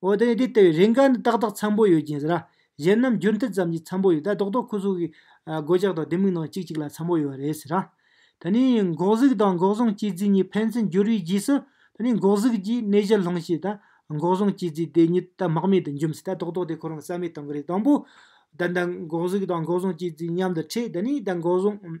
འོ་དེ་དེ་ལྟ་བུའི་རེ་འགའ་ནི་ཏག་ཏག་འཚམ་པོ་ཡོད་ཀྱིན་ཟེར། གཞན་རྣམས་འགྱུར་མཐུད་ཙམ་གྱིས་འཚམ་པོ་ཡོད། ད་རྡོག་རྡོག་ཁོ་ཚོ་གི། སྒོ་ལྕགས་དང་ལྡེ་མིག་ནང་གཅིག་གཅིག་ལ་འཚམ་པོ་ཡོད་རེད་ཟེར། ད་ནི་འགོག་གཟུགས་དང་འགོག་སྲུང་སྤྱི་རྫིས་གཉིས་ཕན་ཚུན་འགྱུར་བའི་རྗེས་སུ། ད་ནི་འགོག་གཟུགས་ཀྱིས་གནས་གཞི་སློང་ཤེས། ད་འགོག་སྲུང་སྤྱི་རྫིས་དེ་ཉིད་ད་རྨག་མེད་དུ་འཇོམས་སྲིད། ད་རྡོག་རྡོག་དེ་ཁོ་རང་རྩ་མེད་གཏོང་གི་རེད་དང་པོ། ད་ད་འགོག་གཟུགས་དང་འགོག་སྲུང་སྤྱི་རྫིས་མཉམ་དུ་འཕྲད། ད་ནི་ད་འགོག་སྲུང།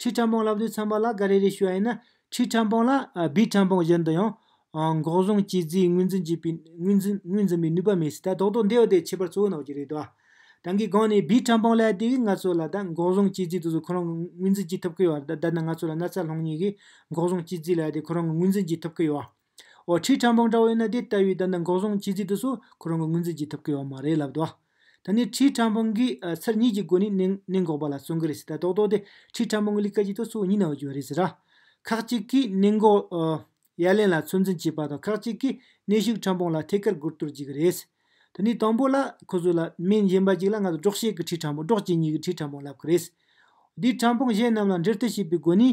ཁྲི་ཁྲམ་པོང་ལབ་དུས་ཚོན་པ་ལ་ག་རེ་རེ་ཞུ་བ་ཡིན་ན་ཁྲི་ཁྲམ་པོང་ལ་སྦིས་ཁྲམ་པོང་བཞིན་དུ་ཡང། འགོག་སྲུང་བྱས་རྗེས་ངོས་འཛིན་བྱས་པའི་ངོས་འཛིན་པའི་ནུས་པ་མེད་སྲིད་ད་རྡོག་རྡོག་འདི་ཡོད་དེ་ཁྱད་པར་གཙོ་བོ་ནག་ཅིག་རེད་དོ། རང་གི་སྒང་ནས་སྦིས་ཁྲམ་པོང་ལས་དེ་གིས་ང་ཚོ་ལ་ད་འགོག་སྲུང་བྱས་རྗེས་དུས་སུ་ཁོ་རང་གི་ངོས་འཛིན་བྱེད་ཐུབ་ཀི་ཡོད་ད་ནི་ང་ཚོ་ལ་ན་ཚ་སློང་ཉེན་གི་འགོག་སྲུང་བྱས་རྗེས་ལས་དེ་ཁོ་རང་གི་ངོས་འཛིན་བྱེད་ཐུབ་ཀི་ཡོད། འོ་ཁྲི་ཁྲ་འབངས་འདྲ་བོ་ཡོད་ན་དེ་ལྟ་བུའི་ད་ནི་འགོག་སྲུང་བྱེད་རྩིས་དུ་སོ་ཁོ་རང་གི་ངོས་འཛིན་བགྱིད་ཐུབ་ཀི་ཡོད་མ་རེད་ལབ་དོ། ད་ནི་ཁྲི་ཁྲ་འབངས་ཀྱིས་ཚར་གཉིས་ཀྱི་སྒོ་ནས་ནད་འགོག་པ་ལ་བརྩོན་གི་རེད་ཟེར་ད་རྡོག་རྡོག་དེ་ཁྲི་ཁྲ་འབངས་ཀྱི་ལི་ཀ་གྱི་ཐོག་སོ་གཉིས་ན་བརྗོད་རེད་ཟེར། ཁག་ཅིག་གིས་ནད་འགོག་ཡ་ལན་ལ་ཚོད་འཛིན་བྱེད་པ་དང་ཁག་ཅིག་གིས་ནད་ཤུགས་ཁྲ་འབངས་ལ་ཐད་ཀར་སྒུར་གཏོར་བགྱིད་ཀི་རེད། ད་ནི་དང་པོ་ལ་ཁོ་ཚོ་ལ་མི་གཞན་པ་ཅིག་ལ་ང་ཚོ་སྒྲོག་བཤད་ཀི་ཁྲི་ཁྲ་འབངས་སྒྲོག་བྱེད་གཉིས་ཀི་ཁྲི་ཁྲ་འབངས་ལབ་ཀི་རེད། དེས་ཁྲ་འབངས་གཞན་རྣམས་ལ་འབྲེལ་མཐུད་བྱེད་པའི་སྒོ་ནས་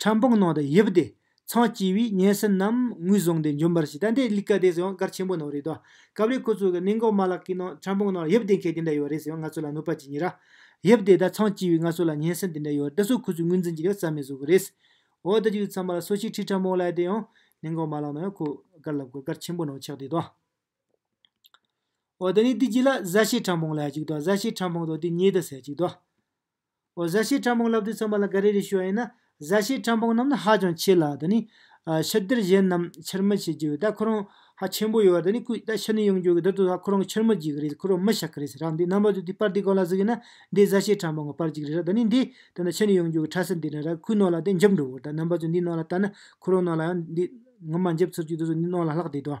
ཁྲམ་པང་ནང་དུ་ཡིབས་ཏེ་ཚང་སྐྱིད་བས་སྙན་སེང་རྣམས་ངོས་བཟུང་སྟེ་འབྱོན་པར་བྱེད་ད་འདི་གླིག་ཀ་དེ་ཟེར་བ་འགར་ཆེན་པོ་ནང་རེད་དོ། སྐབས་རེ་ཁོ་ཚོ་གི་གནས་འགོ་མ་ལག་གི་ནང་ཁྲམ་པང་ནང་ཡིབས་ཏེ་མཁན་དེ་འདྲ་ཡོད་རེད་ཟེར་བ་ང་ཚོ་ལ་གནོད་པ་ཅི་ཉེ་ར། ཡིབས་ཏེ་ད་ཚང་སྐྱིད་བས་ང་ཚོ་ལ་སྙན་སེང་དེ་འདྲ་ཡོད་འདི་ཚོ་ཁོ་ཚོས་ངོས་འཛིན་གྱི་ཡོད་རྩ་མེད་བཟོ་གི་རེད། འོ་ད་ཅིག་ཚང་མ་ལ་སོ་ཕྱིར་ཁྲིད་ཁྲམ་པང་ལ་ཡི་དེ་ཡང་གནས་འགོ་མ་ལག་ནང་ཡང་ཁོ་གར་ལབ་དགོས་གར་ཆེན་པོ་ནང་ཆགས་བསྡད་དོ། འོ་ད་ནི་འདི་གྱི་ལ་གཟའ་བྱེས་ཁྲམ་པང་ལ་ཡ་ཅིག་དོ་གཟའ་བྱེས་ཁྲམ་པང་དང་དེ་ཉེ་དུ་ཟེར་ཅིག་དོ། འོ་བཟའ་བྱའི་ཕྲ་འཕོང་བསླབ་དུས་ཚང་མ་ལ་འགའ་རེ་རེ་ཞུ་བ་ཡིན་ན། བཟའ་བྱའི་ཕྲ་འཕོང་རྣམས་ནི་ཧ་ཅང་ཆེ་ལ། ད་ནི། ཕྱི་སྡེར་གཞན་རྣམས་ཕྱིར་མི་བྱེད་ཀྱི། ད་ཁོ་རང། ཧ་ཆེན་པོ་ཡོད། ད་ནི་སྐུའི་ད་ཕྱི་ནས་ཡོང་རྒྱུ་གི་དེར་དུ་ཧ་ཁོ་རང་གི་ཕྱིར་མི་བགྱི་གི་རེད་ཁོ་རང་མི་བྱ་གི་རེད་ཟེར་རང་འདི་རྣམ་པ་དུ་དུས་པར་དུས་གང་ལ་གཟིགས་ཡིན་ན། འདི་བཟའ་བྱའི་ཕྲ་འཕོང་གི་པར་གཅིག་རེད་ར་ད་ནི་འདི། དེ་ནི་ཕྱི་ནས་ཡོང་རྒྱུ་གི་ཁྲ་སིལ་འདི་རེད་ར་ཁོའི་ནང་ལ་དེ་འཇིབ་འགྲོ་གི་རེད་ད་རྣམ་པ་དུ་འདིའི་ནང་ལ་བལྟ་ན། ཁོ་རང་ནང་ལ་ཡང་འདི། ངོ་མ་འཇིབ་ཚུར་གྱི་དུས་སུ་འདི་ནང་ལ་ལྷག་བསྡད་དོ།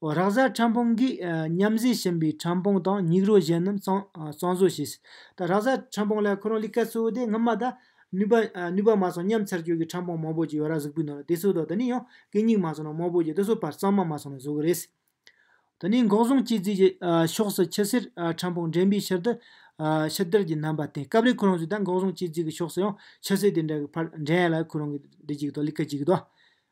རག་བཟའ་ཁྲམ་སྤུངས་ཀྱིས་མཉམ་བཟོས་ཕྱིན་པའི་ཁྲམ་སྤུངས་དང་སྙིགས་རོ་གཞན་རྣམས་གཙང་བཟོ་བྱས། རག་བཟའ་ཁྲམ་སྤུངས་ལ་ཁོ་རང་ལས་ཀ་གཙོ་བོ་དེ་སྔོན་མ་དང། ནུས་པ་མ་སོང་སྙམ་ཚར་གཅོད་ཀྱི་ཁྲམ་སྤུངས་མང་པོ་ཅིག་ཡོད་རག་གཟུགས་པོའི་ནང་ལ་དེ་སོ་དང་དེ་ནས་ཡང་གད་སྙིགས་མ་སོང་རང་མང་པོ་ཅིག་དེ་སོ་བར་གཙང་མ་མ་སོང་རང་བཟོ་གི་རེད། ད་ནི་འགོག་སྲུང་སྤྱི་རྫིས་ཀྱི་ཕྱོགས་སུ་ཆུ་སེར་ཁྲམ་སྤུངས་འདྲེན་པའི་ཕྱིར་དུ་ཕྱི་དར་གྱི་རྣམ་པ་བསྟན་སྐབས་རེ་ཁོ་རང་ཚོས་ད་འགོག་སྲུང་སྤྱི་རྫིས་ཀྱི་ཕྱོགས་སུ་ཡང་ཆུ་སེར་དེ་འདྲ་གི་ཕར་འདྲེན་ཡ་ལ་ཁོ་རང་གིས་འདི་གཅིག་དང་ལི་ཀ་གཅིག་གི་དང།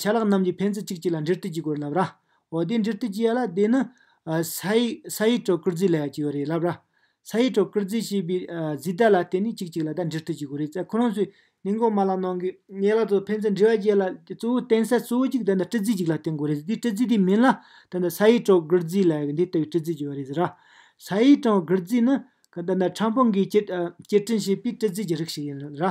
ཆ་ལག་རྣམས་ཀྱི་ཕན་ཚུན་གཅིག་གཅིག་ལ་འབྲེལ་མཐུད་ཀྱི་སྒོར་ལབ་ར། འོ་དེ་འབྲེལ་མཐུད་ཀྱི་ཡ་ལ་དེ་ནི། ས་ཡི་ཡི་གྲོགས་བཀུར་རྫི་ལ་ཡ་ཀྱི་ཡོ་རེད་ལབ་ར། ས་ཡི་གྲོགས་བཀུར་རྫི་ཞེས་པའི་རྫི་ད་ལ་དེ་ནི་གཅིག་གཅིག་ལ་ད་འབྲེལ་མཐུད་ཀྱི་སྒོར་རེད་ཙ་ཁོ་རང་ཚོས་ནི་མགོ་མ་ལ་གནང་གི། ཡ་ལ་དང་ཕན་ཚུན་འབྲེལ་བ་ཀྱི་ཡ་ལ་དེ་གཙོ་བོ་བསྟེན་ས་གཙོ་བོ་གཅིག་ད་ནི་བཀྲི་རྫི་གཅིག་ལ་བསྟེན་དགོས་རེད་ཟེར་དེ་བཀྲི་རྫི་དེ་མིན་ལ་ད་ནི་ས་ཡི་གྲོགས་བཀུར་རྫི་ལ་ཡ་གི་འདི་ལྟ་བུའི་བཀྲི་རྫི་ཀྱི་ཡོ་རེད་ཟེར་ར། ས་ཡི་གྲོགས་བཀུར་རྫི་ནི། ད་ནི་ཁྲམ་ཕུང་གིས་སྐྱེལ་ཁྲིན་བྱས་པའི་བཀྲི་རྫི་ཀྱི་རིགས་ཤིག་ཡིན་ར།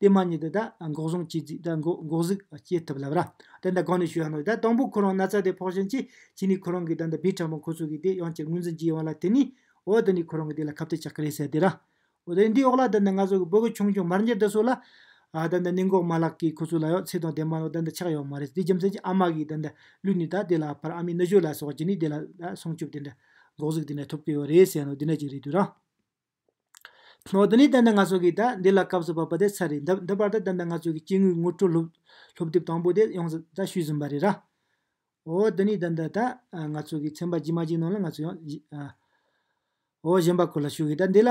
དེ་མ་ཉིད་དུ་ད་འགོག་བཟུང་བྱས་རྗེས་ད་འགོག་འགོག་གཟུགས་སྐྱེ་ཐུབ་ལབ་ར། དེ་ད་གང་ནས་ཞུ་ཡང་ནོ། ད་དང་པོ་ཁོ་རང་ན་ཚ་དེ་ཕོག་བཞིན་གྱིས་གྱིས་ནི་ཁོ་རང་གིས་ད་ད་བི་ཕྲ་མོ་ཁོ་ཚོ་གིས་དེ་ཡང་ཅི་ངོས་འཛིན་གྱིས་ཡོང་ལ་དེ་ནི་འོ་དེ་ནི་ཁོ་རང་གིས་དེ་ལ་ཁབ་ཏེ་ཆགས་ཀྱི་རེད་ཟེར་དེ་ར། འོ་དེ་འདིའི་འོག་ལ་ད་ད་ང་ཚོ་གི་བོད་གི་ཆུང་ཆུང་མར་འགྱེལ་དེ་ཚོ་ལ། ད་ད་ནི་འགོག་མ་ལགས་ཀྱིས་ཁོ་ཚོ་ལ་ཡང་ཚེ་དང་དེ་མ་ནོ་ད་ད་ཆགས་ཡོང་མ་རེད་དེ་རྒྱུ་མཚན་གྱིས་ཨ་མ་གིས་ད་ད་ལུས་ནི་ད་དེ་ལ་ཕར་ཨ་མའི་ནུ་ཞོ་ལ་སོགས་ཀྱིས་ནི་དེ་ལ་ད་སྲུང་སྐྱོབ་དེ་འདྲ་འགོག་གཟུགས་དེ་འདྲ་ཐོབ་ཀྱི་ཡོད་རེད་ཟེར་ནོ་འདི་འདྲ་ཅིག་རེད་དུས་ར། ནོར་དེ་ནི་ད་ལྟ་ང་ཚོ་གིས་ད་འདི་ལ་སྐབས་སུ་བབ་པ་དེ་ཚར་རེད། འདི་བར་དུ་ད་ལྟ་ང་ཚོ་གིས་སྐྱེ་དངོས་ངོ་སྤྲོད་སློབ་དེབ་དང་པོ་དེ་ཡོངས་སུ་ད་ཤུལ་ཟིན་པ་རེད། ར་འོ་འདི་ནི་ད་ལྟ་ང་ཚོ་གིས་ཚན་པ་ཇི་མ་ཇིའི་ནང་ལ་ང་ཚོ་ཡང་འོ་གཞན་པ་ཁོ་ལ་ཞུ་གི། ད་འདི་ལ་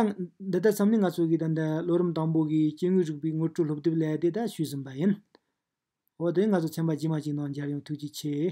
འདི་ལྟར་བསམ་ནས་ང་ཚོ་གིས་ད་འདི་ལོ་རིམ་དང་པོ་གི་སྐྱེ་དངོས་རིག་པའི་ངོ་སྤྲོད་སློབ་དེབ་ལས་དེ་ད་ཤུལ་ཟིན་པ་ཡིན། འོ་དེ་ནི་ང་ཚོ་ཚན་པ་ཇི་མ་ཇིའི་ནང་འཇར་ཡོང་ཐུགས་རྗེ་ཆེ།